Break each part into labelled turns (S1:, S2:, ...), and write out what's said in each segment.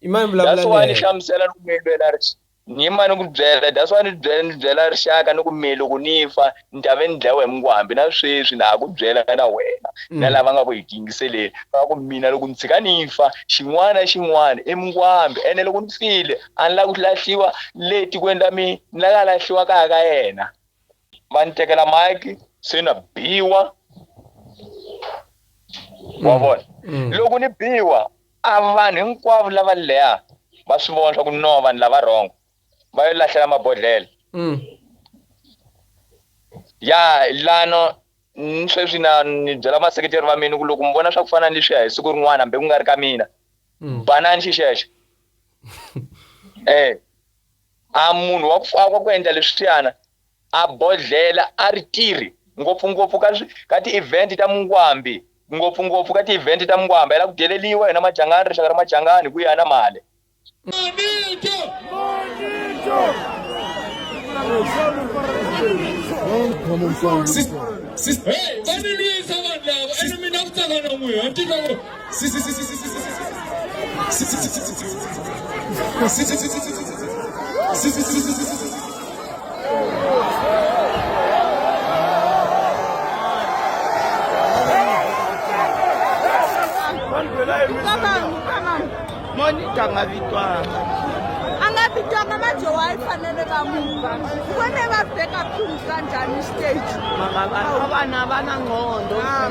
S1: i mani vulavula that's why ni hlamusela
S2: ni ku mi
S1: lwela
S2: ni yima ni ku byela that's why ni byela ni byela rixaka ni ku mi loko ni fa ni ta ve ni dlayiwa hi mungwambi na sweswi na ha ku byela na wena na mm. lava nga ku hi tingiseleli va ku mina loko ni tshika ni fa xin'wana xin'wana i mungwambi ene loko ni file a ni lava ku lahliwa le tikweni la mina ni laka lahliwa kaya ka yena va ni tekela mike se na biwa wa mm. vona mm. loko ni biwa A vanhu hinkwavo lava leha va swi vona swa ku no vanhu lava wrong va yo lahlela mabodlhela mm. ya lano ni sweswi na ni byela vaseketeri va mina ku loko mi vona swa ku fana ni leswiya hi siku rin'wana hambi ku nga ri ka mina mm. banani xixexo um a munhu wa ku faka ku endla leswiyana A bodlhela a ri tirhi ngopfu-ngopfu ka ka ti-event ta mungwambi, ngopfu-ngopfu ka ti-event ta mungwambi. A yi la ku deleliwa yona Machangani, rixaka ra Machangani ku ya na male. Mavito! Mavito! Sis, sis, hey, va ni lwisa vanhu lava, ene mina ku tsaka na n'wina, a ni titwa ku.
S3: monika nga victoire anga
S4: victoire mama jowayi fanele va muva wene va beka phulu kanjani stage mama vana
S3: vana ngondo ah.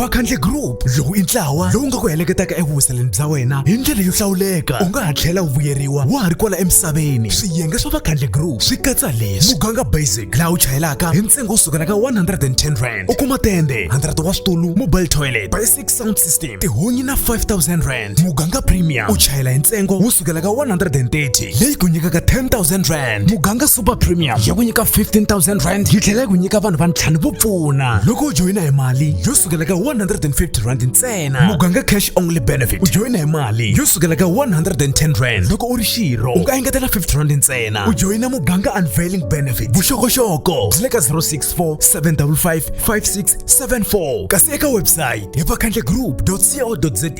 S5: vakhandle group
S6: lowu i ntlawa lowu nga ku heleketaka evuhuseleni bya wena hi ndlela yo hlawuleka u nga ha tlhela u vuyeriwa wa ha ri kwala emisaveni swiyenge swa vakhandle group swi katsa leswi muganga basic laha u chayelaka hi ntsengo wo sukela ka 110 rand u kuma tende 100 wa switulu mobile toilet sound system tihunyi na 5000 rand muganga premium u chayela hi ntsengo wo sukela ka 130 leyi ku nyikaka 10000 rand muganga super premium ya ku nyika 15000 rand yi tlhela yi ku nyika vanhu va ntlhanu vo pfuna loko u joyina hi mali yo sukela ka 150 rand ntsena muganga cash only benefit u joyina hi mali yo sukela ka 110 rand loko u ri xirho u nga engetela 50 rand ntsena u joyina muganga unveiling benefit vuxokoxoko byi le ka 064 755 56 74 kasi eka website hi vakhandlegroup.co.za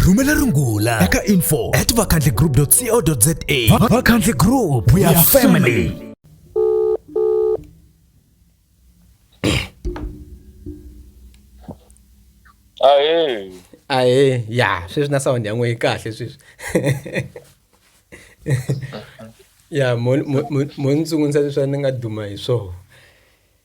S6: rhumela rungula eka info at vakhandlegroup.co.za vakhandle group we are family
S1: ahee ahe ya sweswi na sound ya n'wehe kahle sweswi ya mo ni tsungundza leswi a ni nga duma hi swona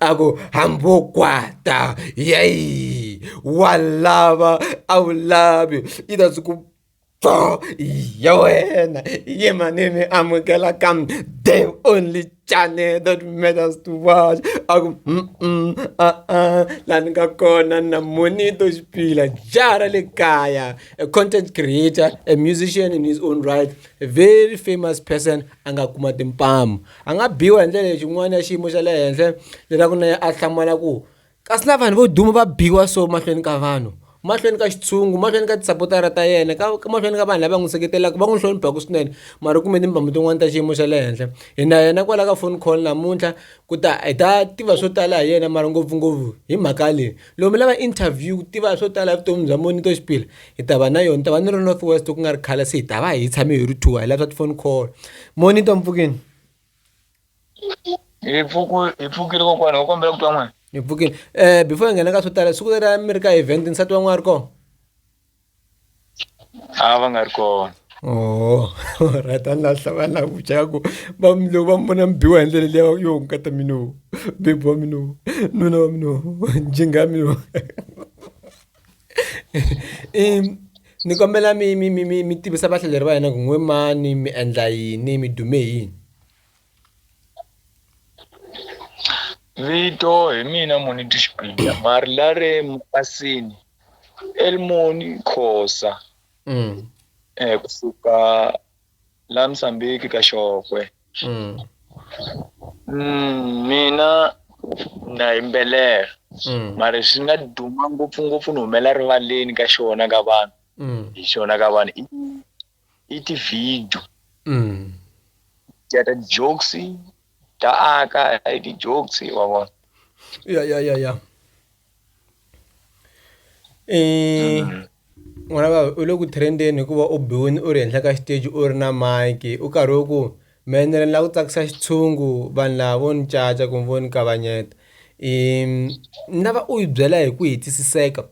S1: a ku hambokwata yeyi wa lava a wu lavi yi ta byi ku pho ya wena ye manimi amukela ka the only channel that matters to watch a ku a-a laha ni nga kona na monito xipila jara le kaya a content creator a musician in his own right a very famous person a nga kuma timpamu A nga biwa hi ndlela leyi xin'wana ya xiyimo xa le henhla leswaku na yena a hlamala ku, Kasi na vanhu vo duma va biwa so mahlweni ka vanhu, mahlweni ka xitshungu, mahlweni ka tisapotara ta yena, ka mahlweni ka vanhu lava n'wi seketelaka, va n'wi hloniphaka swinene, mara u kume timbambu tin'wana ta xiyimo xa le henhla. Hi na yena kwala ka phone call namuntlha ku ta hi ta tiva swo tala hi yena mara ngopfungopfu hi mhaka leyi. lomu lava interview ku tiva swo tala evuton'wini bya monito xipila hi ta va na yona ta va ni ri north west ku nga ri khale se hi ta va hi tshame hi ri two hi lava swa tifoni call monito mpfukini hi
S2: pfuku hi pfukile kokwana u kombela ku twa n'wana hi pfukile um
S1: before hi nghena ka swo tala siku leri a mi ri ka event nsati wa n'wana ri kona a va nga ri kona oh right a ni lahla va la ku chaya ku va mino va mona mbiwa hi ndlela leya yo nkata mino bebi wa mino nuna wa mino njinga mino ni kombela mi mi mi mi mi tivisa vahlaleri va hina ku n'we mani mi endla yini mi dume yini
S2: vito hi mina muni tixipida mari la ri mukasini elmoni khosa mm. eh, kusuka la msambiki ka xokwe mm. mm, mina na yimbelela mm. mari swi nga duma ngopfungopfu ni humela rivaleni ka xona ka vanhu mm. hi xona ka vanhu i ti-video mm. ya ta jokes ta aka i ti-jokes wa vona ya ya ya ya
S1: eh mm. n'wana va u le ku trendeni hikuva u biwini u ri henhla ka xiteji u ri na mike u karhi u ku menere ni la ku tsakisa xitshungu vanhu lava vo ni caca kumbe vo ni kavanyeta um ni lava u yi byela hi ku hetisiseka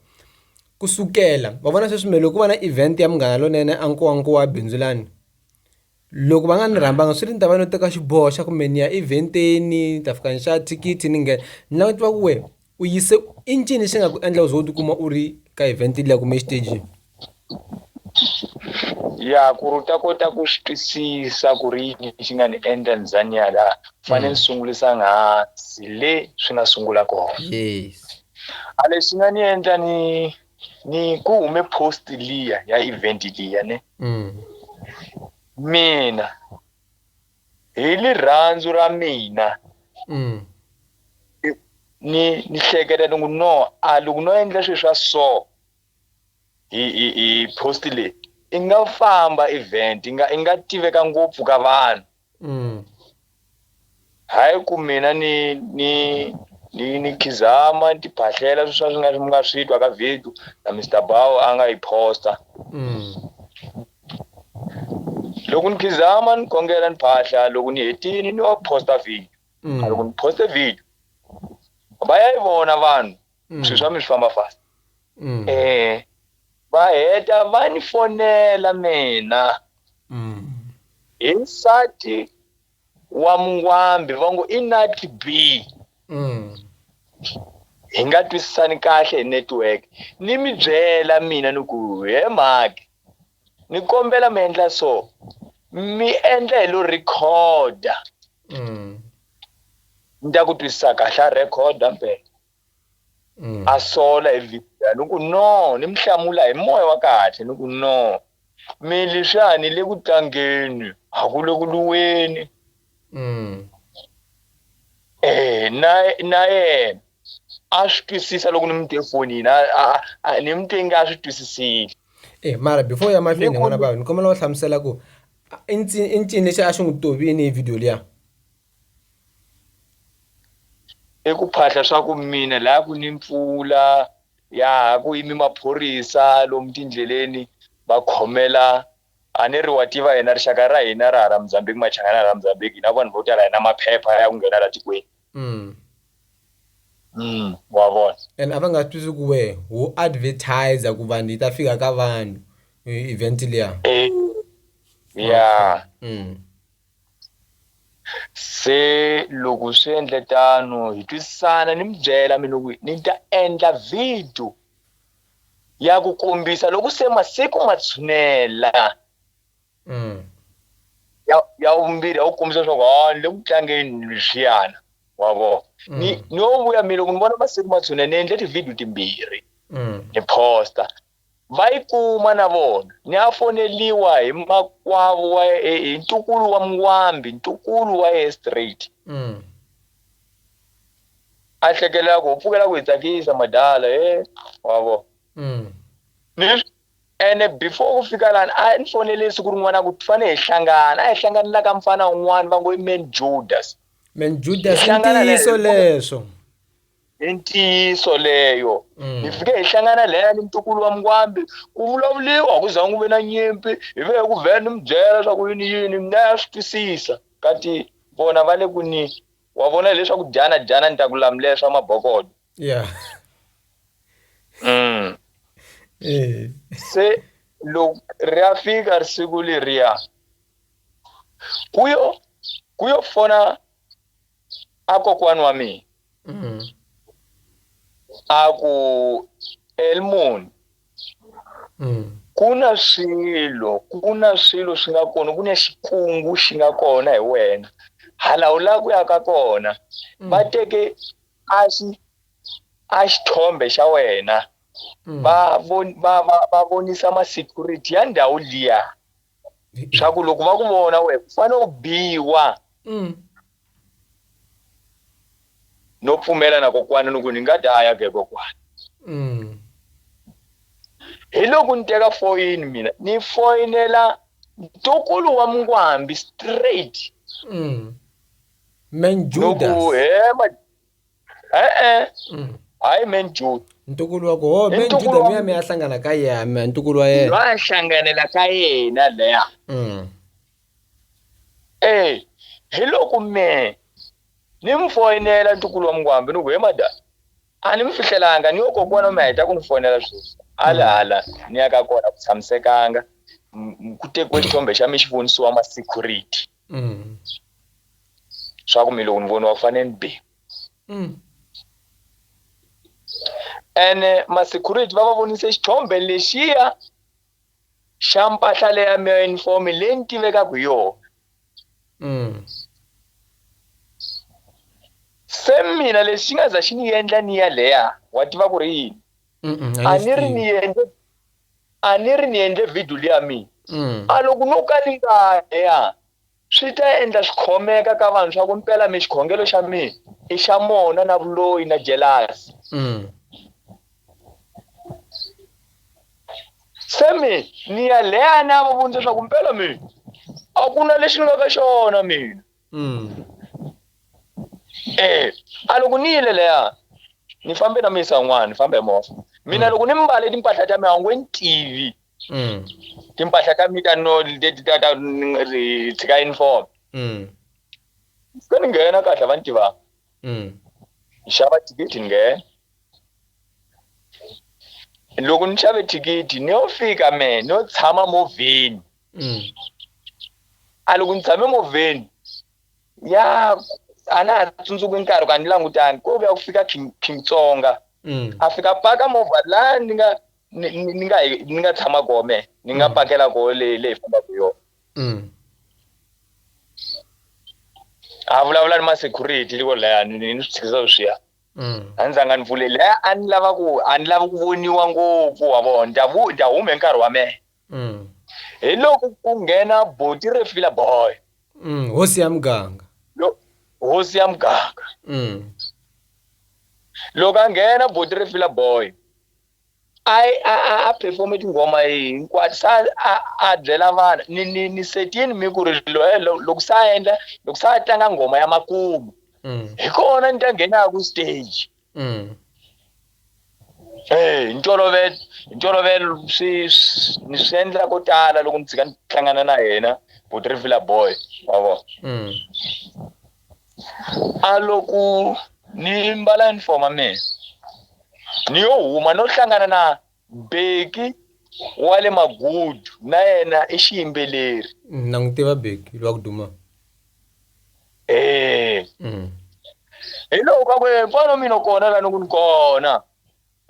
S1: ku sukela wa vona sweswi me loko va na event ya Munghana Lonene a Nkowankowa bindzu lani loko va nga ni rhambanga swi ri ni ta va no teka xiboho xa kumbe ni ya event-eni ni ta fika ni xava thikithi ni nghena ni lava ku tiva ku wena u yise i ncini lexi nga ku endla u ze u tikuma u ri ka event liya kumbe exitejini
S2: ya ku ri u ta kota ku swi twisisa ku ri yini xi nga ni endla ni za ni ya laha fanele ni mm. sungulisa nghansi le swi nga sungula kona yes
S1: a lexi nga
S2: ni endla ni ni ku hume post liya ya event liya ne mm. mina hi lirhandzu ra mina mm. ni ni hleketa ni ku no a loko no endla swilo swa so hi hi hi post leyi i nga famba event i nga i nga tiveka ngopfu ka vanhu Mm. hayi ku mina ni ni ni ni khizama ni tiphahlela swi swa swi nga mi nga swi twa ka video na Mr Bao a nga yi posta Mm. loko ni khizama ni kongela ni phahla loko ni hetini ni wa posta video Mm. loko ni poste video va ya yi vona vanhu mm. swilo swa mi swi famba fast mm. eh va heta va ni fonela mina mm. hi nsati wa mungwambi va ngo i nat b mm. hi nga twisisani kahle hi network ni mi byela mina ni ku he mhaki Ni kombela mi endla so mi endla hi lo recorder mm. ni ta ku twisisa kahle a recorder mpela mm. a sola hi video ni ku no ni mi hlamula hi moya wa kahle ni ku no mi leswiani le ku tlangeni a ku le ku luweni mm. eh na na yena a swi twisisa loko ni mu te fonini ni mu te nge a swi twisisile e eh, mara before
S1: ya mahlweni hi n'wana vava ni kombela u hlamusela ku i ncini lexi a xi n'wi tovini hi video liya
S2: i ku phahla swa ku mina laha ku ni mpfula ya ku yimi maphorisa lomu tindleleni va khomela A ni ri, Wa tiva, hina rixaka ra hina ra hala Mozambique, Machangana hala Mozambique, hi na vanhu vo tala, hi na maphepha ya ku nghena laha tikweni. Mm. Mm, wa vona. And a va nga swi twisi
S1: ku wehe u advertiser ku vanhu yi ta fika ka vanhu e- event liya. Eh, ya.
S2: Mm. Se loko swi endle tano, hi twisisana, ni mi byela mina ku ni ta endla video ya ku kombisa loko se masiku ma tshunela mm. ya ya vumbirhi ya ku kombisa leswaku ha ah, ni le ku tlangeni leswiyana wa vona mm. ni no vuya mina loko ni vona masiku ma tshunela ni endle tivhidiyo timbirhi mm. ni posta va yi kuma na vona ni ya foneliwa hi makwavo wa hi ntukulu wa mngwambi ntukulu wa ye straight mm. a hlekelela ku u pfukela ku hi tsakisa madala he wa vo mm. ni ene before ku fika lani a ni fonele siku rin'wana ku fane hi hlangana a hi hlanganela ka mfana un'wana va ngo i man judas man judas
S1: i ntiyiso leswo i
S2: ntiyiso leyo mm. hi fike hi hlangana leya ni ntukulu wa mkwambi ku vulavuliwa ku za n'wi ve na nyimpi hi ve ku vhela ni mi byela swa ku yini yini mina ya swi twisisa kati vona va le ku ni wa vona hileswaku dyana dyana ni ta ku lamulela swa mabokodo yeah. mm. Eh. se loko ri ya fika ri siku leriya ku yo ku yo fona a kokwani wa mina mm. a ku elmoni mm. ku na swilo ku na swilo swi nga kona ku na xikungu xi nga kona hi wena hala u lava ku ya ka kona mm. va teke a xi a xithombe xa wena mm. va va va va vonisa ma security ya ndhawu liya swa ku loko va ku vona we u fanele u biwa mm. no pfumela na kokwana ni ku ni nga daya ke kokwana mm. hi loko ni teka foyini mina ni foyinela ntukulu wa mngwambi straight mm.
S1: man judas no ku hema eh eh mm.
S2: hayi man judas ntukulu wako ho
S1: man judas luya mi ya hlangana ka yena ntukulu wa yena wa hlanganela ka
S2: yena leya mm. Eyi, hi loko mehe ni mi foyinela ntukulu wa mungwambi ni ku he mada a ni mi fihlelanga ni yo kokwana mi heta ku ni foyinela sweswi a le hala ni ya ka kona ku tshamisekanga ku tekiwe xithombe xa mi xi vonisiwa ma-security mm. swa ku mi loko ni voniwa ku fanele ni be mm. ene ma-security va va vonise xithombe lexiya xa mpahla leya mi uniform leyi ni tivekaka hi yona mm. se mina lexi xi nga za xi ni endla ni ya leya wa tiva ku ri yini a ni ri ni endle a ni ri ni endle video leya mina mm. a loko no ka ni nga ya Swi ta endla swi khomeka ka vanhu swa ku mpela mi xikhongelo xa mina i xa mona na vuloyi na jelasi. Mm. Se mi ni ya leya na va vundza swa ku mpela mina a ku na lexi ni nga ka xona mina. Mm. Eh, a loko ni yile leya ni fambe na misa n'wana ni fambe hi movha. Mina mm. loko ni mbale timpahla ta mina a wu nge ni tivi. mm. timpahla ta mita no leti ta ta ri tshika uniform mm. se ni nghena kahle va ni tivaka mm. ni xava thikithi ni nghena loko ni xave thikithi ni yo fika me ni yo tshama movheni mm. a loko ni tshame movheni ya a na ha tsundzuki nkarhi ka ni langutani ko vuya ku fika king king tsonga mm. a fika paka movha la ni nga ni ni- ni nga hi- ni nga tshama koho me ni nga pakela koho leyi leyi fambaka yona Mm. a vulavula ni ma-security liko laya ni ni swi tshikisa sweswiya Mm. a ni zanga ni pfuleli e a ni lava ku a ni lava ku voniwa ngopfu wa vona ndya vu ndya hume nkarhi wa mehe Mm. hi loko ku nghena boti ri fila boy Mm. hosi ya
S1: muganga Lo- hosi ya muganga Mm.
S2: loko a nghena boti ri fila boy a a a a perform tinghoma hinkwato sa a a byela vanhu ni ni ni setini mi ku ri loye loko sa endla loko sa tlanga nghoma ya makumu mm. hi kona ni ta nghenaka ku stage mm. eh hi ntolovelo hi ntolovelo swi ni swi endla ko tala loko ni tshika ni hlangana na yena ku tirhivila boy wa vona mm. A loko ni mbala yunifomo ya mina ni yo huma no hlangana na Beki wa le Magudu na yena i xiyimbeleri. Na n'wi tiva
S1: Beki lwa ku duma. Eya.
S2: Hi loko ka ku mfana wa mina u kona la ni ku ni kona.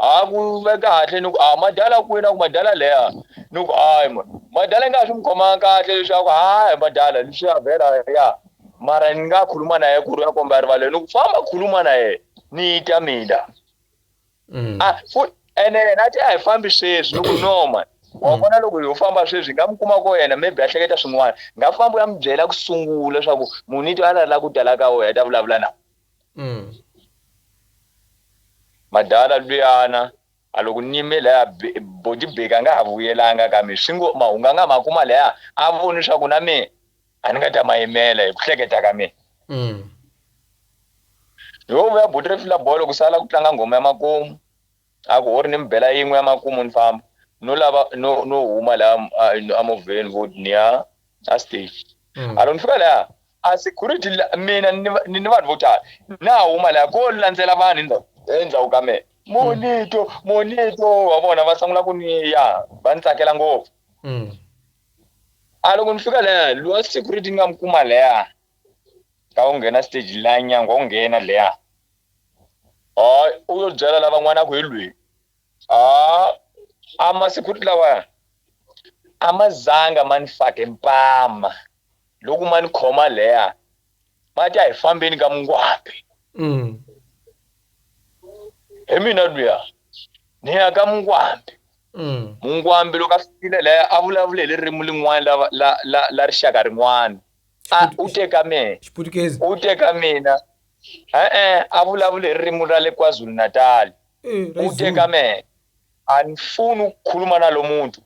S2: A ku ve kahle ni ku, A madala kwihi? Na ku, Madala leya. Ni ku, Hayi, ma, madala yi nga ha swi n'wi khomanga kahle leswi a ku, Hayi, madala, leswiya vhela, ya. Mara ni nga khuluma na yena ku ri u ya komba erivaleni. Ni ku, Famba khuluma na yena, ni ta mina. Mm. A, fu, ene yena a te a hi fambi sweswi. Ni ku, No, mani. Wa mm. vona loko ho famba sweswi, hi nga mi kuma ko yena, maybe a hleketa swin'wana. Nga famba u ya mi byela ku sungula leswaku munhu i twa a ri la ku tala ka wena, a ta vulavula na. Madala luyana a lo ku nime laya Bodibeki a nga ha vuyelanga ka mi, swi ngo, Mahunganga ma kuma laya a voni swaku na me a ni nga ta ma yimela, hi ku hleketa ka me. Yo vuya buti ri fila bolo ku sala ku tlanga nghoma ya makumu, a ku, Hori ni mi bela yin'we ya makumu ni famba. No lava no, no huma laya a movheni, vhoti, ni ya a stage. A lo ni fika laya, a security mina ni ni vanhu vo tala na huma laya ko landzela vanhu endzhaku endzhaku ka mina monito mm. monito wa vona va sungula ku ni ya va ni tsakela ngopfu mm. a loko ni fika laya lowa security ni nga mi kuma laya ka u nghena stage laya nyanga u nghena leya a u yo byela lavan'wana a ku hi lweyi a a ma security lawaya a ma zanga ma ni fake mpama loko ma ni khoma leya ma ta hi fambeni ka mungwambi mm. hi mina luya ni ya ka mungwambi mm. mungwambi loko a fikile leya a vulavule hi ririmi lin'wana la, la, la, la rixaka rin'wana a u teka mina u teka mina e-e a vulavule hi ririmi ra le kwazulu natali eh, u teka mina a ni funi ku khuluma na lo muntu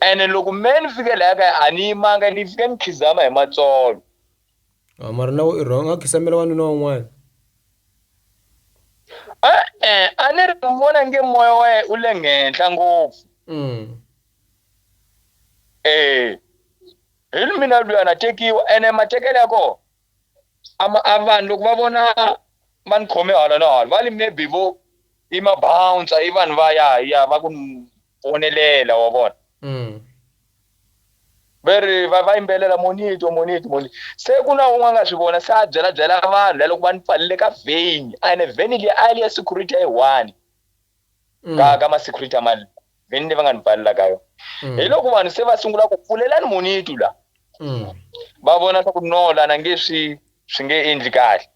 S2: ene loko me ni fike laya kaya a ni yimanga ni fike ni khizama hi matsolo ah, mara
S1: nawe i wrong a khisamela wanuna wan'wana
S2: e-e a ni ri ni vona nge moya wa yena u le ngenhla ngopfu mm. e hi mina luya na tekiwa ene matekelo ya kona a ma- a vanhu loko va vona va ni khome hala na hala va li maybe vo i mabouncer i vanhu va ya ya va ku ni vonelela wa vona Mm. va ri va va yimbelela monito monito monito se ku na un'we a nga swi vona se a byela byela vanhu la loko va ni pfalile ka vheni a ene vheni liya a yi ri ya security ya yi one mm. ka, ka masecurity amali veni leyi va nga ni pfalela ka yona mm. hi loko vanhu se va sungula ku pfulelani munitu la mm. va vona swa ku no lana nge swi swi nge endli kahle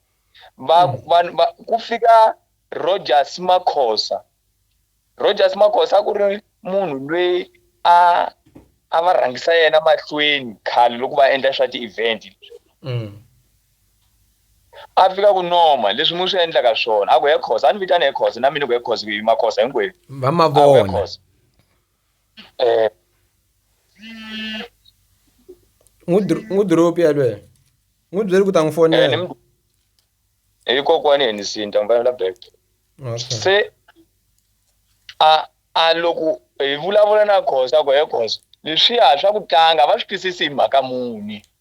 S2: va, mm. va, va ku fika rogers makhosa rogers makhosa a ku ri munhu lweyi a a va rhangisa yena mahlweni khale loko va endla swa ti-event mm. A fika ku Noma, leswi mi swi endlaka swona. A ku, He Khosa. A ni vitana he Khosa. Na mina ku, He Khosa, ku yima Khosa hinkwenu. Va ma vona. A ku, He Khosa.
S1: Eh. N'wi n'wi dropi yalweyo. N'wi byeli ku ta n'wi fonela.
S2: Eh, hi kokwani he ni sinta n'wi fanela back. Okay. Se a a loko hi vulavula na Khosa ku, He Khosa, leswiya swa ku tlanga va swi twisisi hi mhaka muni?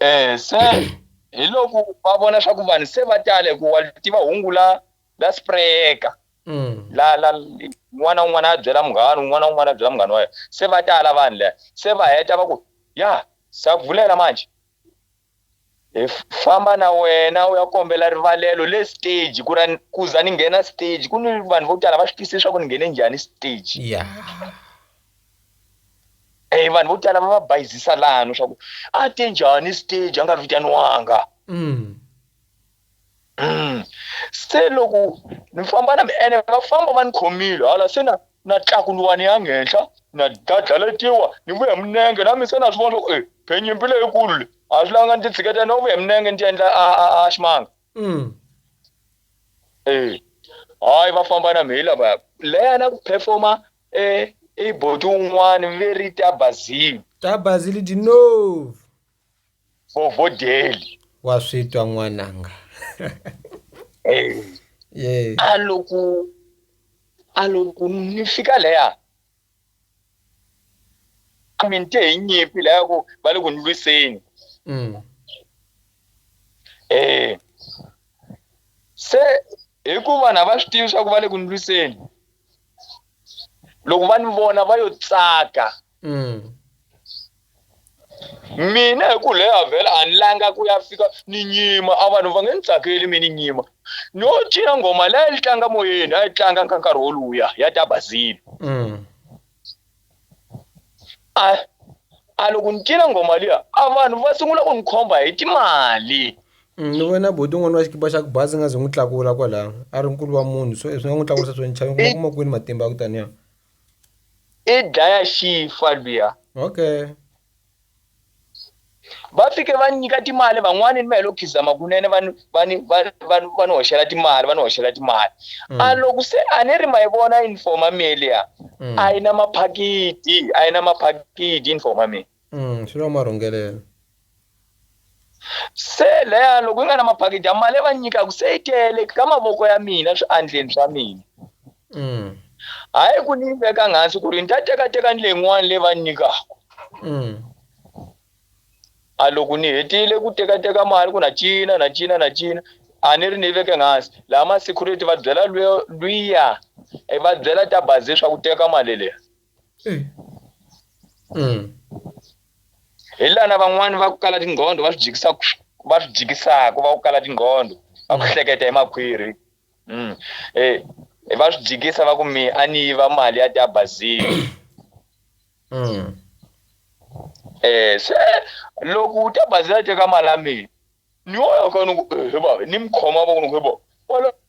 S2: Eh se hi loko va vona swa ku vanhu se va tale ku wa tiva hungu la la sprayeka mm. la la n'wana un'wana a byela munghana un'wana un'wana a byela munghana wa yena se va tala vanhu leya se va heta va ku ya sa vulela manje hi famba na wena u ya kombela rivalelo le stage ku ra ku za ni nghena stage ku ni vanhu vo tala va swi twisisa leswaku ni nghene njhani stage yeah. e vanhu vo tala va va bayizisa lano swa ku a te njhani stage a nga vitaniwanga mm. mm. se loko ni famba na ene va famba va ni khomile hala se na na tlakuliwani ya nghenhla na dadlaletiwa ni vuya minenge na mi se na swi vona swa ku e phenyimpi leyikulu le a swi langa ni ti tshiketela no vuya minenge ni ti endla a ximanga mm. e hayi va famba na mhila va leyana ku performa E i boti un'wana veri ta Bazili. Ta Bazili di nov.
S1: Vovodeli.
S2: Wa swi twa
S1: n'wananga. Eh. Yeah. A
S2: loko a loko ni fika leya a mi ni te hi nyimpi leya ku va le ku ni lwiseni. Mm. Eh. Se Hi ku vanhu a va swi tivi swa ku va le ku ni lwiseni loko va ni vona va yo tsaka mm. mina hi ku leya vhela a ni langa ku ya fika ni nyima a vanhu va nge ni tsakeli mi ni nyima no cina nghoma leyi yi tlanga moyeni a yi tlanga ka nkarhi woluya ya ta bazile mm. a a loko ni cina nghoma liya a vanhu va sungula ku ni khomba hi timali mm,
S1: ni vona boti un'wana wa xikipa xa ku bazi nga ze n'wi tlakula kwalaho a ri nkulu wa munhu so swi nga n'wi tlakulisa swo nchava kuma kuma kwini matimba ya ku taniya
S2: i dlaya xifa luya okay va fike va nyika timali van'wani ni va helo khizama kunene va ni va ni va va va ni hoxela timali va ni hoxela timali mm. a loko se a ni ri ma yi vona uniform amelia mm. a yi na maphakiti a yi na maphakiti uniform amelia mm, swi na
S1: marhungelelo
S2: Se leya loko yi nga na maphakiti a mali ya va nyikaka se yi tele ka mavoko ya mina swiandleni swa mina. Mm. Hayi ku ni yi veka hansi ku ri ni ta tekateka ni leyin'wana leyi va ni nyikaka. Mm. A loko ni hetile ku tekateka mali ku na cina na cina na cina a ni ri ni yi veke hansi laha ma-security va byela luya i va byela ta bazi leswaku teka mali leyi. hi lana van'wani va ku kala tinqondo va swi jikisa va swi jikisaka va ku kala tinqondo va ku hleketa hi makhwiri um va swi jikisa va ku mi a ni yiva mali ya tiabazini um se loko u ta bazila teka mali ya mina ni yo yaka ni ku he bava ni mi khoma va ku ni ku he bava wala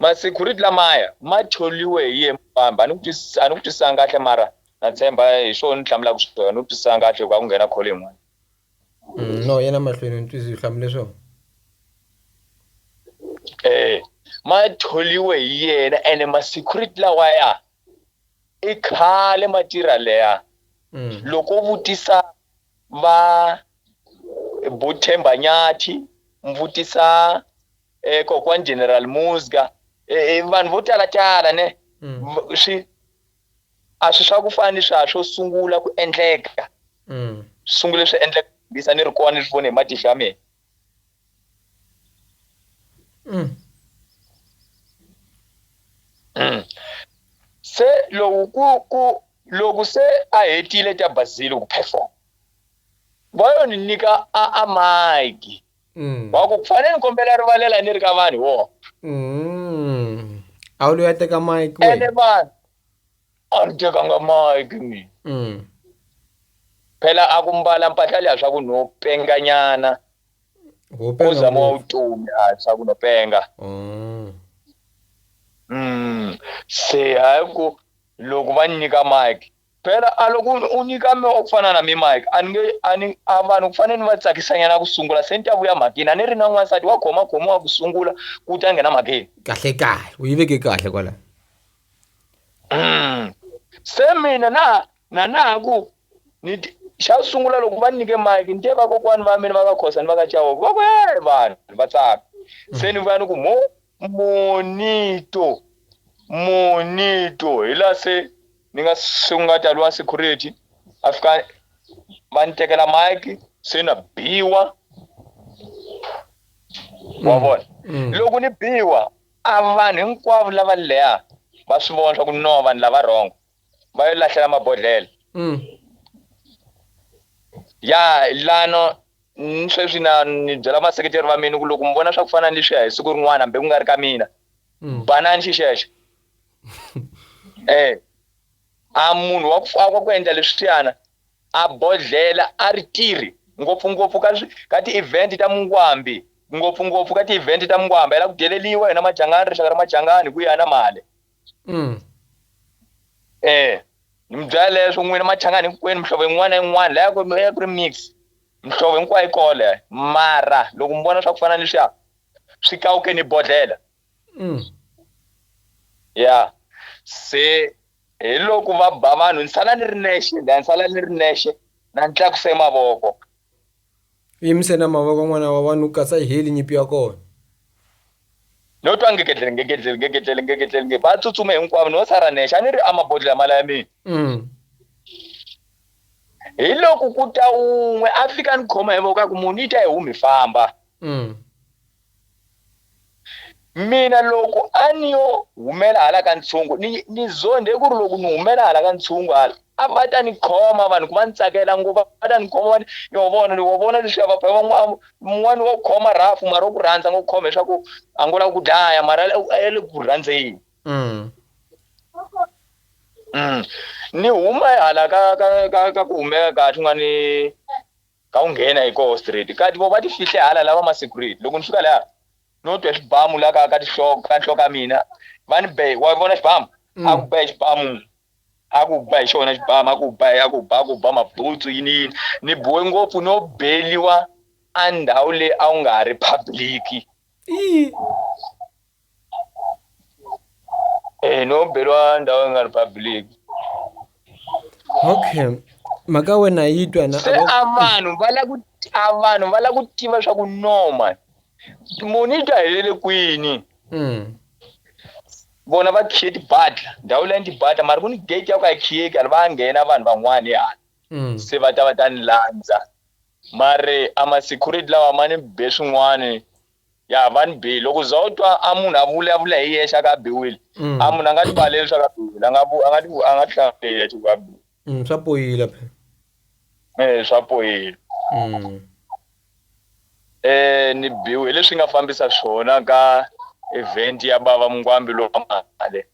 S2: Ma security lamaya ma tholiwe hi yena mufambi a ni ku a ni ku twisisanga kahle mara na tshemba hi swona ni hlamulaka swona ni ku twisisanga kahle hikuva ku nghena call yin'wana mm,
S1: no yena mahlweni ni twisisi hlamule swona
S2: eh ma tholiwe hi yena ene ma security lawaya i khale ma tirha leya mm. loko vutisa va bothemba nyathi mvutisa eh, kokwan general musga eh, eh, vanhu vo tala tala ne mm. swi a swi swa ku fana ni swa swo sungula ku endleka mm. sungule swi endleka bisa ni ri kona ni swi vone hi matihlo ya mina mm. mm. se lowu ku ku loko se a hetile ta bazile ku perform va yo ni nyika a a mike Mm. wa ku fane ni kombela rivalela ni ri ka vanhu wo Mm.
S1: a wu lo ya teka mike ene wena vanhu
S2: a ni tekanga mike mina Mm. phela a ku mbala mpahla leya swa ku no penganyana Ho u penga zama wa ngopfu. vutomi a swa ku no penga Oh. Mm. se hayi ku loko va ni nyika mike Phela a loko u nyika me wa ku fana na mi Mike a ni nge a ni a vanhu ku fane ni va tsakisanyana ku sungula se ni ta vuya mhakeni a ni ri na n'wansati wa khoma khoma wa ku sungula ku ta nghena mhakeni kahle kahle u yi
S1: veke kahle kwala mm.
S2: se mina na na na ku ni xa sungula loko va nyike Mike ni te va kokwani va mina va ka khosa ni va ka chawoko va ku hey vanhu va tsaka se mm. ni vuya ni ku mo monito monito hi la se ni nga sunga ta lwa security a fika va ni tekela mike se na biwa wa mm. vona mm. loko ni biwa a vanhu hinkwavo lava leha va swi vona swa ku no vanhu lava rhongo va yo lahlela mabodhlele mm. ya lano sweswi na ni byela vaseketeri va mina ku loko mi vona swa ku fana ni leswiya hi siku rin'wana hambi ku nga ri ka mina banani xi xexo eh a munhu wa ku faka ku endla leswiyana a bodhlela a ri tirhi ngopfungopfu ka ka ti-event ta mungwambi ngopfungopfu ka ti-event ta mungwambi a la ku dyeleliwa hina majangani rixaka ra majangani hi ku ya na mali mm. eh ni mi byela leswo n'wina machangani hinkwenu mihlovo yin'wana na yin'wana laya ku ya ku ri mix mihlovo hinkwayo yi kole mara loko mi vona swa ku fana ni leswiya swi kawukeni bodhlela mm. ya se hi loko va ba vanhu ni sala ni ri nexe ni sala ni ri nexe na ni tlakuse mavoko
S1: yimise na mavoko n'wana wa vanhu u katsa yi heli nyipi ya kona
S2: no twa ngegedlele ngegedlele ngegedlele ngegedlele nge va tsutsuma hinkwavo no sara nexe a ni ri amabodlela mala ya mina mm. hi loko ku ta un'we a fika ni khoma hi voko a ku munhu yi ta hi humi famba mm. Mina loko a ni yo humela hala ka ntshungu ni, ni zondhe ku ri loko ni humela hala ka ntshungu hala a va ta ni khoma vanhu ku va ni tsakela ngopfu va ta ni khoma va ni yo vona ni wa vona leswiya va van'wana wa ku khoma rhafu mara wa ku rhandza ngo khoma leswaku a ngo lava ku dlaya mara ya le ku rhandzeni mm. mm. ni huma hala ka ka ka ka ku humeka kahle nga ni Ka u nghena hi koho straight kati voho va ti fihle hala lava ma security. Loko ni fika laya no twa xibamu la ka ka tinhloko ka nhloko ya mina va ni be wa vona xibamu a ku be xibamu a ku ba hi xona xibamu a ku ba a ku ba a ku ba mabutsu yini yini ni biwe ngopfu no beliwa a ndhawu leyi a wu nga ha ri public Eh, no belwa ndawo nga republic
S1: okay mhaka wena yi twa na se a vanhu va
S2: la ku a vanhu va la ku tiva swa ku noma muni yi ta helele kwini mm. vona va khiye tibadla ndhawu leyi ni tibadla mara ku ni gate ya ku a khiyeki ali va nghena vanhu van'wana hi hala mm. se va ta va ta ni landza mare a ma-security lawa ma ni be swin'wana Ya, va ni bihe. Loko u za u twa a munhu a vulavula hi yexe a ku a biwile, a munhu a nga tivaleli leswaku a biwile. A nga vu, a nga ti, a nga tihlamuseli hi yexe ku a biwile. Mm, swa poyila
S1: phela.
S2: Eh, swa poyila. Mm. Eh, ni biwe. Hi leswi hi nga fambisa swona ka event ya Bava Mngwambi lowa mali.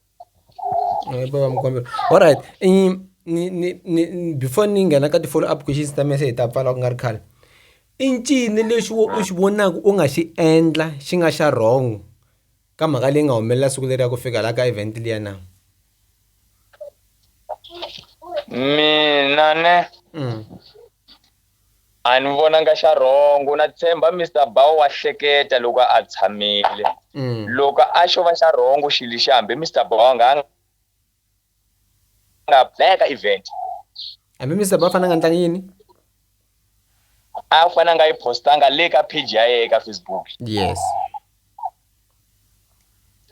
S1: alright ni ni ni ni before ni nghena ka ti-follow up questions ta mina se hi ta pfala ku nga ri khale i ncini lexi wo u xi vonaka u nga xi endla xi nga xa wrong ka mhaka leyi nga humelela siku leri ya ku fika la ka event liya na
S2: mina ne. A ni vonanga xa rhongo na tshemba Mister Bao wa hleketa loko a tshamile. Loko a xo va xa rhongo xi lexi hambi Mister Bao a nga nga ya ka event. Hambi Mister
S1: Bao a fane a nga ndlanga yini? A
S2: fane a nga yi post-anga le ka page ya yehe ka Facebook. Yes.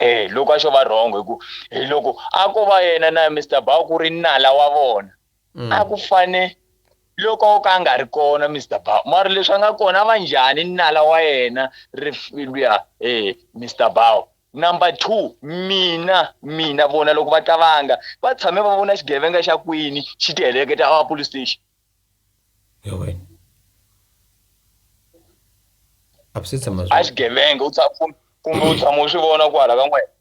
S2: E, loko a xo va rhongo hi ku hi loko a ko va yena na Mister Bao ku ri nala wa vona. mm. a ku fane loko o ka a nga ri kona mr ba mara leswi a nga kona va njhani nala wa yena rifiluya e eh, mr bao number two mina mina vona loko va tavanga va tshame va vona xigevenga xa kwini xi ti heleketa a police station
S1: a xigevenga u
S2: tshama kumbe u tshama u swi vona kwala ka n'wena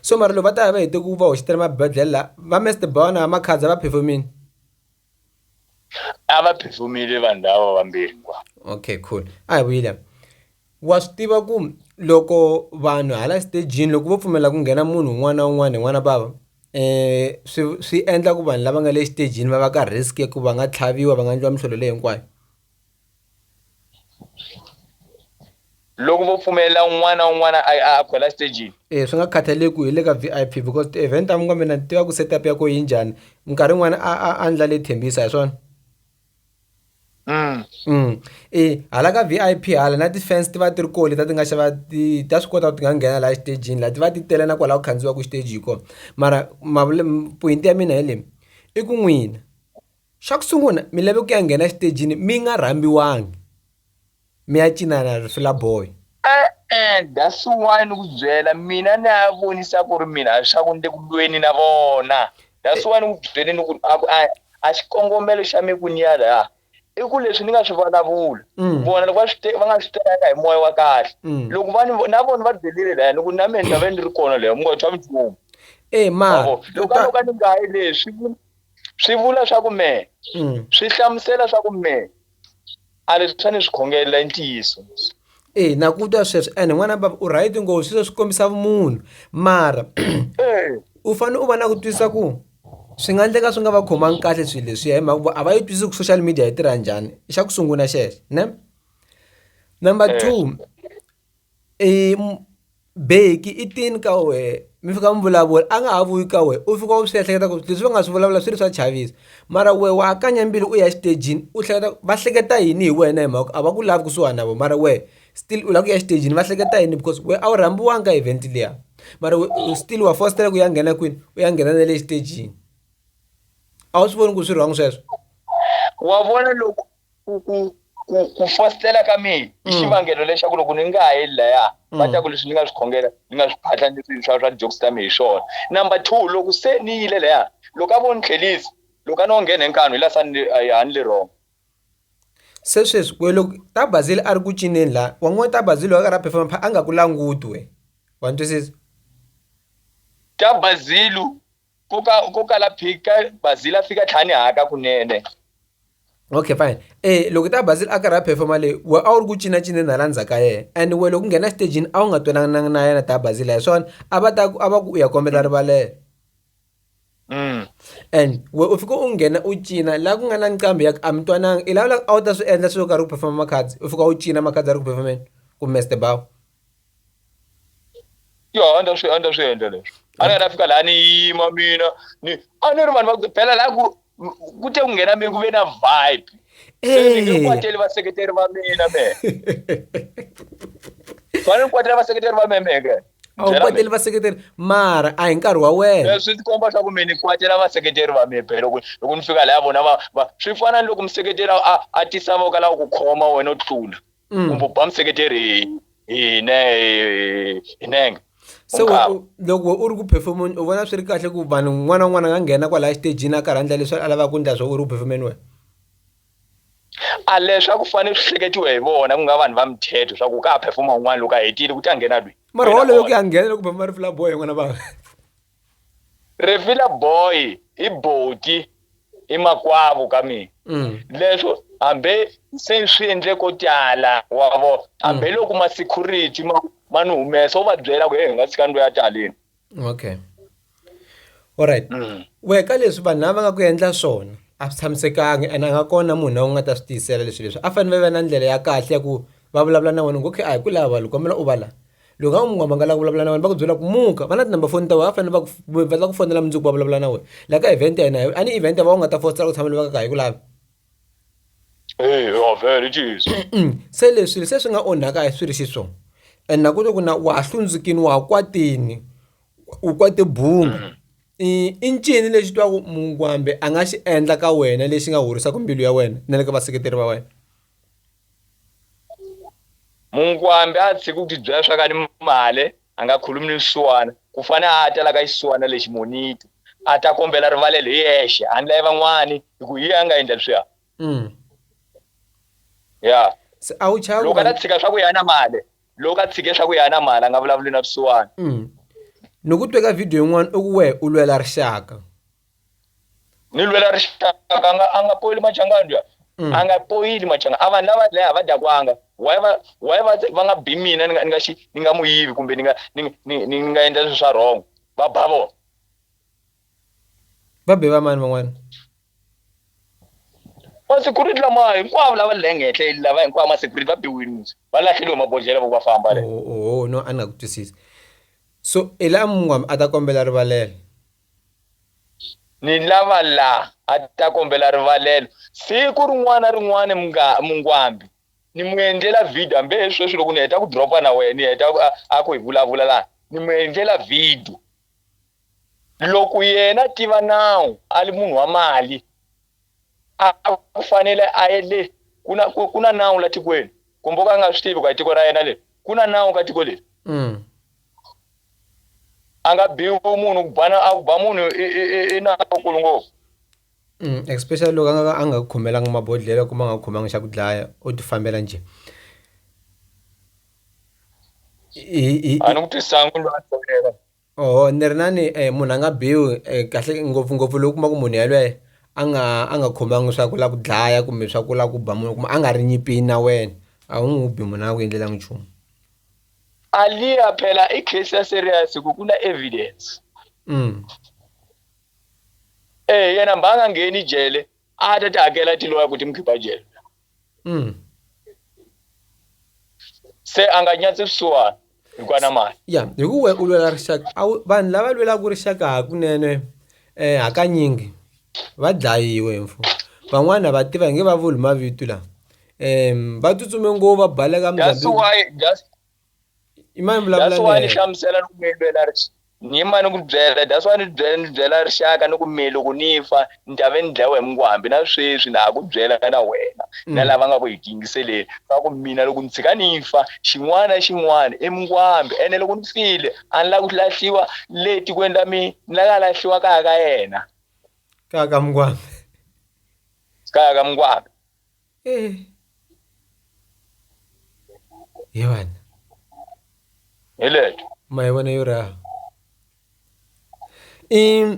S2: so mara loko va
S1: ta ya va hete ku va hoxetela mabedlele la va Mister Bona va Makhadza va phefomini
S2: a va phefomile vanhu lava vambirhi kwa okay cool
S1: a hi vuyile wa swi tiva ku loko vanhu hala stejini loko vo pfumela ku nghena munhu un'wana na un'wana hi n'wana bava eh swi swi endla ku vanhu lava nga le xitejini va va ka risk ya ku va nga tlhaviwa va nga endliwa mihlolo leyi hinkwayo
S2: loko vo pfumelela un'wana na un'wana a a khwela stagini e swi nga khathaleki ku
S1: hi le ka v i p because ti-event ta minga mina ni tiva ku set up ya ko yi njhani minkarhi yin'wana a a a ndla leyi thembisa hi swona mm. mm. e hala ka v i p hala na ti-fans ti va ti ri ko leta ti nga xava ti ta swi kota ku ti nga nghena laha xitejini laha ti va ti tele na kwalaho khandziwaka xiteji hi kona mara poyinti ya mina hi leyi i ku n'wina Xa ku sungula mi lave ku ya nghena exitejini mi nga rhambiwangi mi ya cina na Rifila Boy. E-e
S2: that's why ni ku byela mina ni ya vonisa ku ri mina swa ku ni le ku lweni na vona that's why ni ku byele ni ku a ku a a xikongomelo xa mi ku ni ya la i ku leswi ni nga swi vulavula vona loko va swi va nga swi tekanga hi moya wa kahle loko va ni na vona va delile laya ni ku na mina ni ta ve ni ri kona leyo mi nga tshwa minchumu e ma
S1: loko a no ka ni nga
S2: yi leswi swi vula swa ku me mm. swi hlamusela swa ku me a leswi swa ni swi khongelela i ntiyiso e na
S1: ku twa sweswo ene n'wana baba u right ngo sweswo swi kombisa vumunhu mara u fanele u va na ku twisisa ku swi nga endleka swi nga va khomangi kahle swilo leswiya hi mhaka ku a va yi twisisi ku social media yi tirha njhani i xa ku sungula xexo ne number two i beki i tini ka wehe mi fika mi vulavula a nga ha vuyi ka wena u fika u swi ehleketa ku leswi va nga swi vulavula swi ri swa chavisa mara wehe wa ha kanya mbilu u ya exitejini u hleketa va hleketa yini hi wena hi mhaka a va ku lavi kusuhani na vona mara wehe still u lava ku ya exitejini va hleketa yini because wehe a wu rhambiwanga ka event liya mara we u still wa fositela ku ya nghena kwini u ya nghena na le xitejini a wu
S2: swi voni
S1: ku swi wrong sweswo wa vona loko
S2: Ku, ku,
S1: ku,
S2: ku fositela ka mina i mm. xivangelo lexaku loko ni nga ha yeli laya mm. va ta ku leswi ni nga swi khongela ni nga swi phatla ni swi swa swa tijoksi ta mina hi swona number two loko se ni yile laya loko a vo ni tlhelisa loko a ni wo nghena hi nkanu hi la sa ni a ni le wrong
S1: se sweswi we loko ta bazili a ri ku cineni laha wa n'wi ta bazili wa karhi a performa pha a nga ku languti we wa ni twisisa
S2: ta bazilu Ko ka ko kala pick ka Bazil a fika tlhani haka kunene.
S1: Okay fine. Eh loko ta Bazil a karhi a performa leyi we a wu ri ku cinacineni hala ndzhaku ka yena and we loko nghena xitejini a wu nga twanananga na yena ta Bazil hi swona a va ta ku a va ku u ya kombela rivalelo. Mm. And we u fika u nghena u cina laha ku nga na nqambi ya ku a mi twananga i lava a wu ta swi endla swilo karhi ku performa Makhadzi u fika u cina Makhadzi a ri ku perform-eni kumbe Mister Bawu.
S2: yo a ndzi ta swi a ndzi ta swi endla leswi a ni nga ta fika laha ni yima mina ni a ni ri vanhu va phela laha ku ku te ku nghena mina ku ve na vibe se ni nge kwateli vaseketeri va mina me fanele ni kwatela vaseketeri va me meke a wu kwateli
S1: vaseketeri mara a hi nkarhi wa wena swi tikomba swa ku mi ni
S2: kwatela vaseketeri va mi phela loko loko ni fika laya vona va va swi fana ni loko museketeri a a tisavoka lava ku khoma wena u tlula mm. kumbe ku ba mseketeri hi ne hi nenge se
S1: loko u ri ku performeni u vona swi ri kahle ku vanhu n'wana un'wana a nga nghena kwalaya xitejini a karhandla leswi a lavaka ku ndla swo u ri ku performeni wena
S2: a leswi a ku fanele swi hleketiwe hi vona ku nga vanhu va mithetho swa ku ka ha phefoma un'wana loko a hetile ku ta nghena lweyi mara wolowo ku ya nghena
S1: loko phefoma rifulaboy yin'wana vana Refila
S2: boy i boti i makwavu ka mina mm. leswo hambe se swi endle ko tala wa vo hambe mm. loko ma security ma ma ni humesa u va byela ku he hi nga tshika ndlo ya taleni okay
S1: alright mm. we ka leswi vanhu lava va nga ku endla swona a swi tshamisekangi and a nga kona munhu lowu nga ta swi tiyisela leswi leswi a fanele va va na ndlela ya kahle ya ku va vulavula na wena ngokhe a hi ku lava loko kombela u va la loko a n'wi mangala ku vulavula na wena va ku byela ku muka va na tinumber phone ta wena va fanele va ku va ta ku fonela mundzuku va vulavula na wena la ka event ya hina a ni event ya va u nga ta fositela ku tshama loko ka ka hi ku lavi
S2: se leswi
S1: se swi nga onhaka hi swi ri xiswona and na ku to ku na wa ha hlundzukini wa ha kwatini u kwate bunga mm. i i ncini lexi twaku mungwambe a nga xi endla ka wena lexi nga horisaka mbilu ya wena na le ka vaseketeri va wena
S2: Munkwambi a tshiki ku tibyela swa ka ni male a nga khulumi ni swisiwana, ku fane a ta la ka xisiwana lexi monito, a ta kombela rivalelo hi yexe handla ya van'wani, hi ku hi yena a nga endla leswiya. Mm. Ya. Se a wu chava
S1: Loko a ta tshika swa ku ya na
S2: male, loko a tshike swa ku ya na male a nga vulavuli na swisiwana. Mm. Ni
S1: ku twe ka video yin'wana u ku wehe u lwela rixaka.
S2: ni lwela rixaka nga a nga poyeli machangadya mm. a nga poyeli machanga a vanhu lava dlaya va dakwanga why va why va va nga bi mina ni nga ni nga xi ni nga muyivi kumbe ni nga ni ni ni nga endla leswi swa wrong va ba vona
S1: va be va mani van'wana
S2: masecurity lama hinkwavo lava le hengehle lava hinkwavo masecurity va biwini va lahleliwe mabodlhela va ku va famba le oh, oh, oh no a ni nga ku
S1: twisisi so ela mungwami a ta kombela rivalelo
S2: ni lava la a ta kombela rivalelo siku rin'wana rin'wana mungwambi ni mu endlela video hambi he sweswi loko ni heta ku dropa na wena ni heta a ku hi vulavula laha ni mu endlela video loko yena tiva nawu a li munhu wa mali a ku fanele a ye le ku na ku na nawu la tikweni kumbe u ka a nga swi tivi ku a tiko ra yena le ku na nawu ka tiko leri mm. a nga biwi munhu ku bana a ku ba munhu i nawu kulu ngopfu mm,
S1: especially loko a nga a nga khomelanga mabodhlelo kumbe a nga khomanga xa ku dlaya u ti fambela nje
S2: a ni ku twisangu lwa Oho ni ri na ni
S1: munhu a nga biwi kahle ngopfungopfu loko u kuma ku munhu yalweye a nga a nga khomangi swa ku la ku dlaya kumbe swa ku la ku ba munhu kumbe a nga ri nyipini na wena a wu n'wu bi munhu a nga ku endlelanga nchumu. A
S2: liya phela i case ya serious hi ku ku na evidence. Eya yena mba a nga ngheni jele. atati hakela tiloya kuti mukhipha jele mm. se a nga nyatsi swisiwana hikuva na mali ya hi ku we u lwela
S1: rixaka a wu- vanhu lava lwelaka rixaka hakunene um hakanyingi va dlayiwe mfo van'wana a va tiva hi nge va vuli mavito lawa um va tsutsume ngopfu va baleka that's muzambiki why
S2: that's i mani vulavula that's why ni hlamusela
S1: ni ku
S2: mi lwela ni yima ni ku byela that's why ni byela ni byela rixaka ni ku mi loko ni fa ni ta ve ni dlayiwa hi mungwambi na sweswi na ha ku byela na wena na mm. lava nga ku hi tingiseleni va ku mina loko ni tshika ni fa xin'wana xin'wana i mungwambi ene loko ni file a ni lava ku lahliwa le tikweni ra mina ni lava lahliwa kaya ka yena kaya ka
S1: mungwambi
S2: kaya ka mungwambi
S1: Eh. Yevana.
S2: Hileto. Mayivona yo raha.
S1: I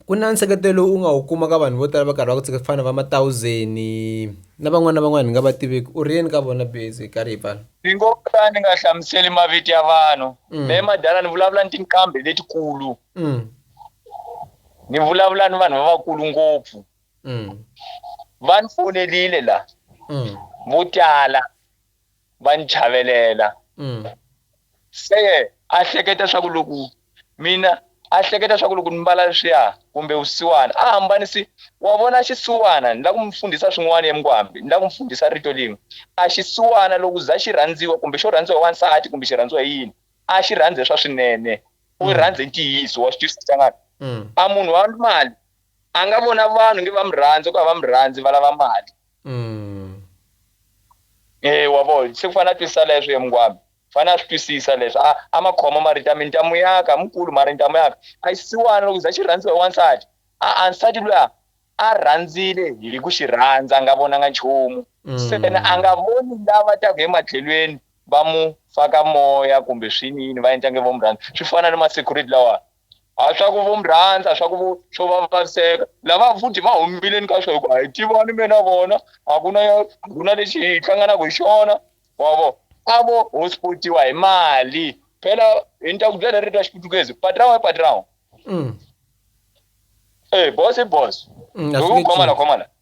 S1: ku na nseketelo u nga wu kuma ka vanhu vo tala va karhi va ku tseka ku fana va matawuzeni na van'wana na van'wana hi nga va tiveki u ri yini ka vona base hi karhi hi pfala ni ngo ka ni nga
S2: hlamuseli mavito ya vanhu mm. me madala ni vulavula ni tinqambi letikulu mm. ni vulavula ni vanhu lavakulu ngopfu Mm. va ni fonerile la Mm. vo tala va ni chavelela Mm. se a hleketa swa ku loko mina a hleketa swa ku loko ni mbala leswiya kumbe vusiwana a hambanisi wa vona xisiwana ni la ku mi fundhisa swin'wana emkwambi ni la ku mi fundhisa rito lin'we a xisiwana loko za xi rhandziwa kumbe xo rhandziwa hi wansati kumbe xi rhandziwa hi yini a xi rhandze swa swinene u Mm. rhandze ntiyiso wa swi twisisa xangana Mm. a munhu wa mali a nga vona vanhu nge va mi rhandzi ku a va mi rhandzi va lava mali mm. e wa vo se ku fanele a twisisa leswo ye mungwami fanele a swi twisisa leswo a a ma khoma ma rita mintamu yaka mukulu ma rintamu yaka a xisiwana loko za xi rhandziwa hi wansati a a nsati luya a rhandzile hi ku xi rhandza a nga vonanga nchumu mm. se na a nga voni lava taku hi matlhelweni va mu faka moya kumbe swinini va endla nge vo mu rhandza swi fana ni ma-security lawani a swa ku vo mi rhandza swa ku vo swo va vaviseka lava futhi va humileni ka swo hikuva hi tivani me na vona a ku na a ku na lexi hi hlanganaka hi xona wa vo a vo hospitiwa hi mali phela hi ni ta ku byela ri ta xiputukezi patrawa i patrawa mm. e eh, boss i boss mm, hi ku khomana khomana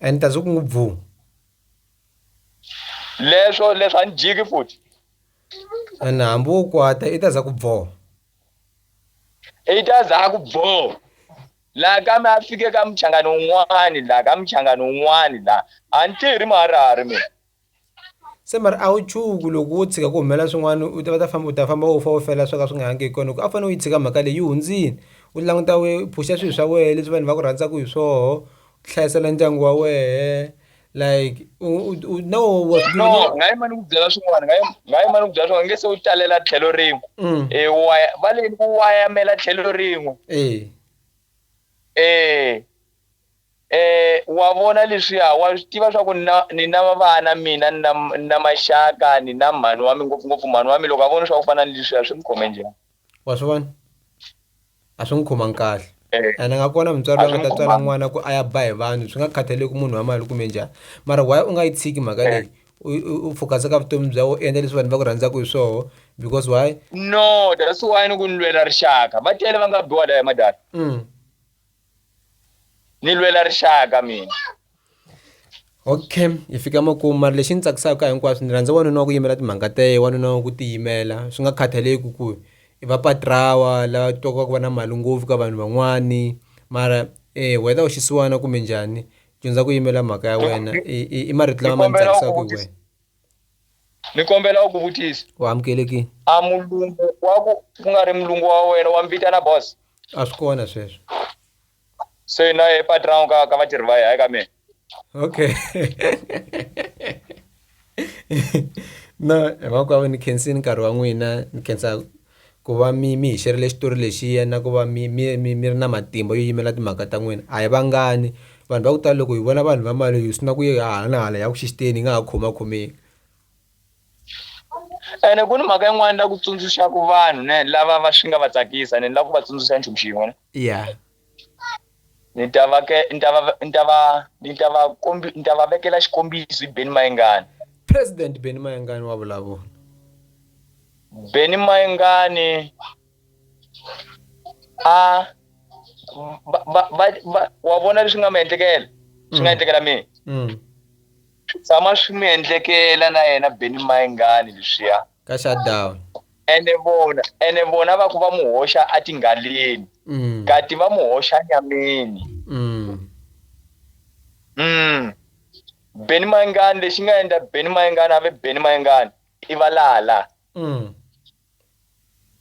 S1: and ta zwi ku n'wi bvu
S2: leswo leswi a ni jiki futhi
S1: and hambi wo kwata i ta za ku bvo
S2: i ta za ku bvo laha kambe a fike ka muchangani un'wani laha ka muchangani un'wani laha a ni tirhi muharihari mina Se
S1: mara a wu chuhi loko wo tshika ku humelela swin'wana u ta va ta famba u ta famba u fa u fela swo ka swi nga yangi hi kona hi ku a wu fanele u yi tshika mhaka leyi yi hundzile u languta we u phusha swilo swa wena leswi vanhu va ku rhandzaka hi swoho u hlayisela ndyangu wa wehe like u u na wo
S2: wa swi no u nga yi mani ku byela swin'wana nga yi nga yi mani ku byela swin'wana nge se u talela tlhelo rin'we Mm. e wa va leni ku wayamela tlhelo rin'we eh e E, wa vona leswiya, wa swi tiva swa ku ni na, ni na vana mina, ni na, ni na maxaka, ni na mhani wa mi, ngopfu-ngopfu mhani wa mi, loko a vona swa ku fana ni leswiya, swi n'wi khome njhani? Wa swi vona?
S1: A swi n'wi khomangi kahle. Eh. Ene nga kona mutswari A loyi a swi nga n'wi ta tswala khomangi. n'wana ku a ya ba hi vanhu, swi nga khathaleki ku munhu wa mali kumbe njhani. Mara why u nga yi tshiki mhaka Eh. leyi, u, u, u focus-a ka vutomi bya wena, u endla leswi vanhu va ku rhandzaka hi swoho, because why? No, that's
S2: why ni ku ni lwela rixaka. Va tele va nga biwa laya madala. Mm. ni lwela rixaka mina
S1: okay hi fika makumu mari lexi ni tsakisaka hinkwaswo ni rhandza wanuna wa ku yimela timhaka ta ye wanuna wa ku tiyimela swi nga khathaleki ku i va patrawa lava twaka ku va na mali ngopfu ka vanhu van'wani mara eh whether u xisiwana kumbe njhani dyondza ku yimela mhaka ya wena i marito lama ma ni tsakisaka hi wena
S2: ni kombela u ku vutisa u amukelekile
S1: a mulungu
S2: wa ku ku nga ri mulungu wa wena wa mi vitana boss a swi kona
S1: sweswo
S2: se na ye patrão ka ka vatirhi va ye hayi ka mina
S1: okay no hinkwako ni khensini nkarhi wa n'wina ni khensa Ku va mi mi hi xerhele xitori lexiya na ku va mi mi mi mi ri na matimba yo yimela timhaka ta n'wina a hi vangani vanhu va ku tala loko hi vona vanhu va mali hi sungula ku yi hala na hala hi ya ku xisiteni hi nga ha khomakhomeki
S2: ene ku ni mhaka yin'wana la ku tsundzuxaka vanhu ne lava va swi nga va tsakisa ne la ku va tsundzuxa nchumu xin'we ne ya ni ta va ke ni ta va ni ta va ni ta va kombi ni ta va vekela xikombiso hi Benny Mayengani President Benny
S1: Mayengani wa vulavula
S2: Benny Mayengani a va va va wa vona leswi nga mi endlekela swi nga mm. endlekela mina mm. swi tshama swi mi endlekela na yena Benny Mayengani leswiya mm. ka shutdown
S1: ene vona
S2: ene vona va ku va mu hoxa atinghaleni mm. kati va mu hoxa nyameni mm. mm. beni mayingani lexi nga endla beni mayingani a ve beni mayingani i valala mm.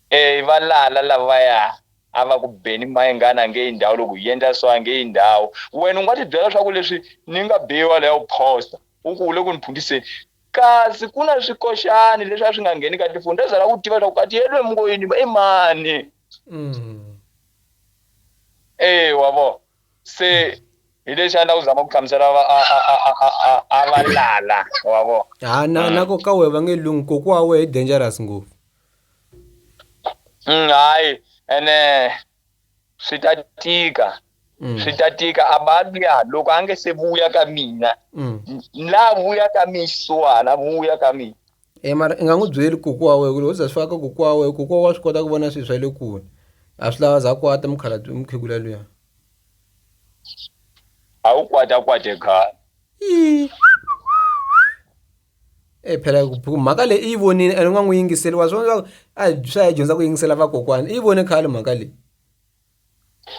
S2: e i valala lavaya a va ku beni mayingani a nge yi ndhawu loko yi endla so a nge yi ndhawu wena u nga tibyela leswaku leswi ni nga biwa leya u phosta u ku u le ku ni phundiseni Kasi ku na swikoxani leswi a swi nga ngheni ka tifoni ta zala ku tiva leswaku kati yelwe mungoyini i mani mm. e wa vo se hi lexi a ni la ku zama ku hlamusela a va lala wa vo ha na mm. na ko ka
S1: wehe va nge lungu koku wa wehe i dangerous ngopfu mm,
S2: hayi ene swi ta tika mm. swi ta tika a ba luya loko a nge se vuya ka mina mm. la vuya ka mina xisiwana vuya ka mina e mara i nga n'wi
S1: byeli koko wa wena ku loko u za swi faka ka koko wa wena koko wa swi kota ku vona swilo swa le kule a swi lava za kwata mukhala mukhegula luya
S2: a wu kwata kwate khale
S1: e phela ku mhaka leyi i yi vonile ene u nga n'wi yingiseli wa swona leswaku a swa hi dyondza ku yingisela vakokwana i yi vone khale mhaka leyi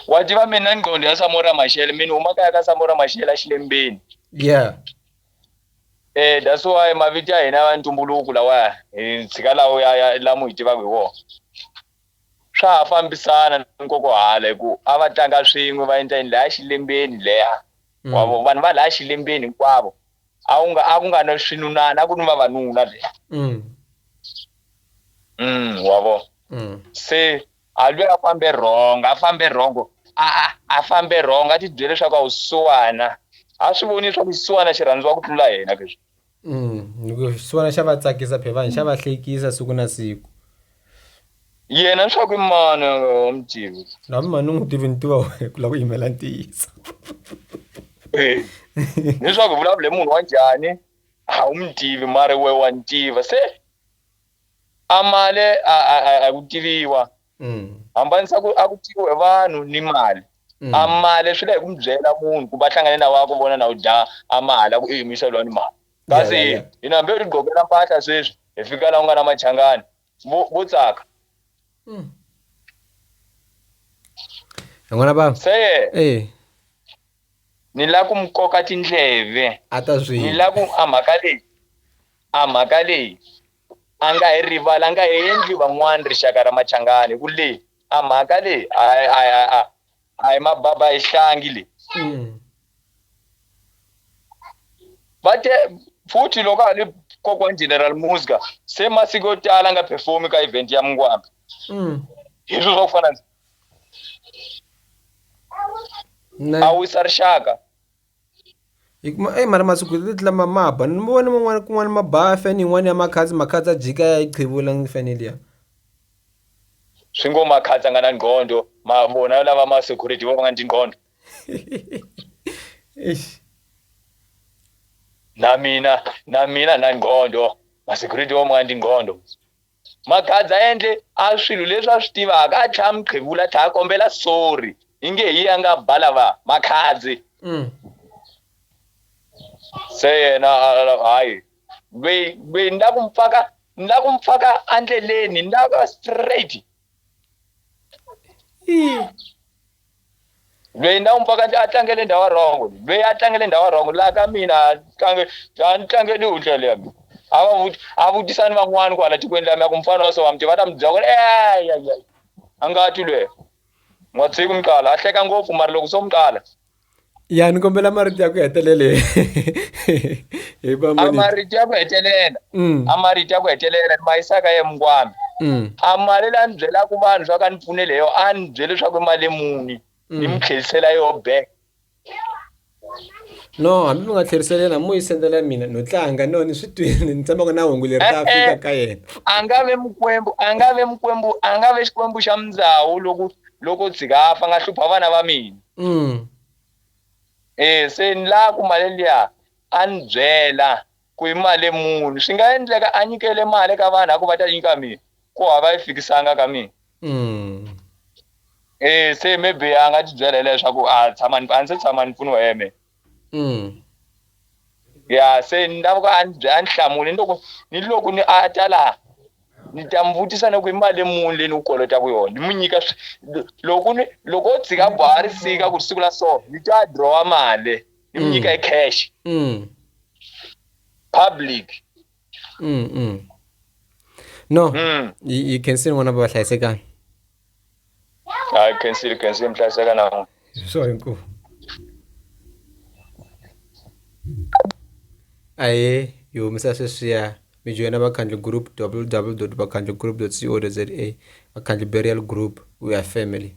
S2: wa tiva mina ni nqondo ya samora maxele mina huma kaya ka samora maxele a xilembeni yeah eh that's why mavito ya hina ya ntumbuluko lawa hi tshika lawo ya ya lamu hi tivaka hi wona swa ha fambisana ni nkokohala hi ku a va tlanga swin'we va endla yini laya xilembeni leya mm. wavo vanhu va laya xilembeni hinkwavo a ku nga a ku nga na swinunana a ku ni vavanuna le mm. mm wa vo mm. se a lwe a fambe wrong a fambe wrong a a a fambe wrong a ti byele leswaku a wu suwana a swi voni leswaku xisiwana xi rhandziwa ku tlula yena leswi mm,
S1: xisiwana xa va tsakisa phevani xa va hlekisa siku na siku
S2: yena leswaku i mani a nga wa mutivi na mi mani u n'wi tivi
S1: ni tiva wena ku lava ku yimela ntiyiso
S2: leswaku vulavule munhu wa njhani a wu mi tivi mari we wa ni tiva se a male a ku tiviwa mm. hambanisa ku a ku tiviwe vanhu ni mali mm. a male swi la hi ku mi byela munhu ku va hlangane na wa ku vona na u dya a mali a ku i yimisa lwa ni mali kasi yeah, yeah, yeah. ino hambe utigqokela mpahla sweswi hi fika la u nga na machangani vo tsaka hmm.
S1: yin'wana bava se eh.
S2: ni la ku mi koka tindleve a ta swi ni la
S1: ku a mhaka
S2: leyi a mhaka leyi a nga hi rivala a nga hi endli van'wana rixaka ra machangani ku leyi a mhaka leyi a a hi mababa hi hlangi leyi mm. va te futhi loko a ni kokwana general musga se masiku yo tala nga performi ka event ya mungwambi mm. hi swilo swa ku fana a wisa rixaka Hikuva e
S1: mara masiku hi tlula ma ma ba ni vona man'wana kun'wana ma ba fane yin'wana ya makhadzi makhadzi a jika ya yi qhevula ni fane liya
S2: swi ngo makhadzi a nga na nqhondo ma vona lava ma security vo va nga ni tinqhondo eish na mina na mina na nqhondo ma security vo ma nga ni tinqhondo Magadza a endle a swilo leswi a swi tivaka a tlhaya muqhevula a tlhaya kombela sorry yi nge hi a nga ba lava makhadzi mm. se yena hayi lweyi lweyi ni la ku mpfaka ni la ku mpfaka andleleni ni la ka straight lweyi na umpaka nje a tlangele ndhawu ya wrong lweyi a tlangele ndhawu ya wrong laha ka mina a tlange a ni tlangeli u ndlela ya mina a va vuti a vutisa ni van'wani kwala tikweni la mina ku mufana wa so wa mi tiva ta mi byela ku ri eya ya a nga ti lweyo n'watsiku mi qala a hleka ngopfu mara loko so mi qala ya ni
S1: kombela marito ya ku hetelela a
S2: marito ya ku hetelela mm. a marito ya ku hetelela ni ma yisaka ye mungwana mm. a mali la ni byelaka vanhu swa ka ni pfunele yo a ni byele leswaku i mali muni mm. ni mi tlhelisela yo back
S1: no hambi mi nga tlherisela yena mo yi sendela mina no tlanga no ni swi twini ni tshamaka na hungu leri ta eh, fika eh. ka yena a nga ve mukwembu
S2: a nga ve mukwembu a nga ve xikwembu xa mindzawu loko loko tshika a fa nga hlupha vana va mina Mm. E se ni la ku mali liya a ni byela ku i mali muni swi nga endleka a nyikele mali ka vanhu a ku va ta nyika mina ku hava yi fikisanga ka mina mm. e se maybe a nga ti byela leswaku a tshama a ndzi se tshama ni pfuniwa hi yena Mm. ya se ni lava ku a ni a ni hlamuli ni loko ni loko ni a ta laha ni ta mi vutisa ni ku i mali leyi muni leyi ni ku kolotaka yona ni mu nyika swi- loko ni loko o tshika boha ri fika ku ri siku la so ni ta drawa mali ni mu nyika hi cash Mm. public Mm. Mm.
S1: No. Mm. Yi yi khensiwe n'wana va hlayisekani. hayi
S2: khensile khensile mhlayiseka nawo so inkosi
S1: aye yihomisa sweswiya mi joyina vakhandli group www vakhandli group co za vakhandli burial group we are family